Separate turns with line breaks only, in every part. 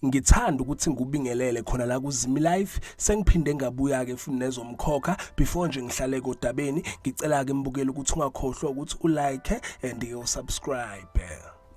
ngithanda ukuthi ngikubingelele khona la kuzimi life sengiphinde ngabuya ke futhi nezomkhokha before nje ngihlale kodabeni ngicela ke mbukele ukuthi ungakhohlwa ukuthi ulike and usubscribe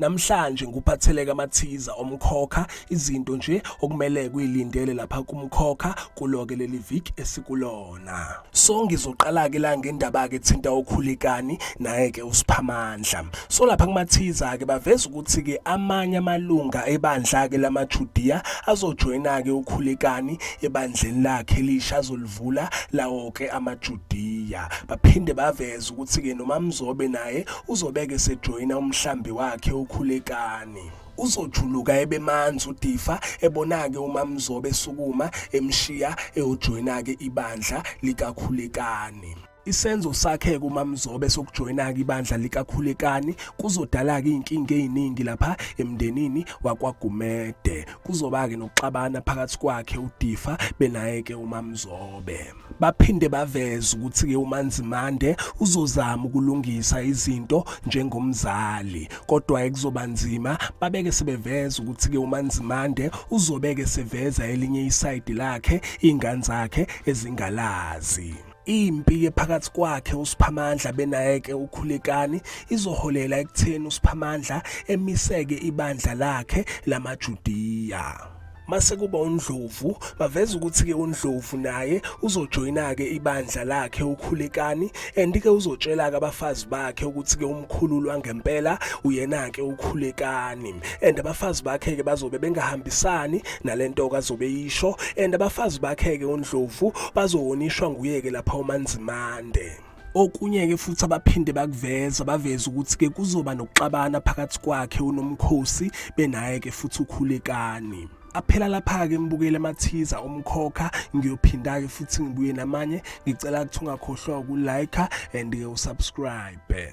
Namhlanje nguphatheleka amathiza omkhokha izinto nje okumele kuyilindele lapha kumkhokha kuloke leli viki esikulona. So ngizoqala-ke la ngendaba-ke ethinta ukhulekani naye-ke usiphamandla. So lapha kumathiza-ke baveza ukuthi-ke amanye amalunga ebandla-ke lamaJudiya azojoyina-ke ukhulekani ebandleni lakhe elisha azoliv bavula lawo-ke amaJudiya. Baphinde baveza ukuthi-ke noMamzobe naye uzobeke sejoyina umhlambi wakhe uKhulekani. Uzojuluka ebemanzi uDifa ebona-ke uMamzobe esukuma emshiya eyojoyina-ke ibandla likaKhulekani. Isenzo sakhe kumamzobe sokujoyina-ke ibandla likakhulekani kuzodala-ke iy'nkinga ey'ningi lapha emndenini wakwagumede kuzoba-ke nokuxabana phakathi kwakhe udifa benaye-ke umamzobe baphinde baveze ukuthi-ke umanzimande uzozama ukulungisa izinto njengomzali kodwa-ke kuzoba nzima babeke sebeveza ukuthi-ke umanzimande uzobeke seveza elinye isayidi lakhe iy'ngane zakhe ezingalazi Impi yephakathi kwakhe uSiphamandla benayeke uKhulekani izoholela ekutheni uSiphamandla emiseke ibandla lakhe lamaJudiya. mase kuba uNdlovu baveza ukuthi ke uNdlovu naye uzojoyina ke ibandla lakhe uKhulekani and ke uzotshela ke abafazi bakhe ukuthi ke umkhululu wangempela uyena ke uKhulekani and abafazi bakhe ke bazobe bengahambisani nalento kazobe yisho and abafazi bakheke undlovu bazohonishwa nguyeke lapha umanzimande okunye ke futhi abaphinde bakuveza baveza ukuthi ke kuzoba nokuxabana phakathi kwakhe unomkhosi benaye ke futhi ukhulekani aphela lapha ke ngibukele amathiza omkhokha ngiyophinda ke futhi ngibuye namanye ngicela ukuthi ungakhohlwa ukulike and ke usubscribe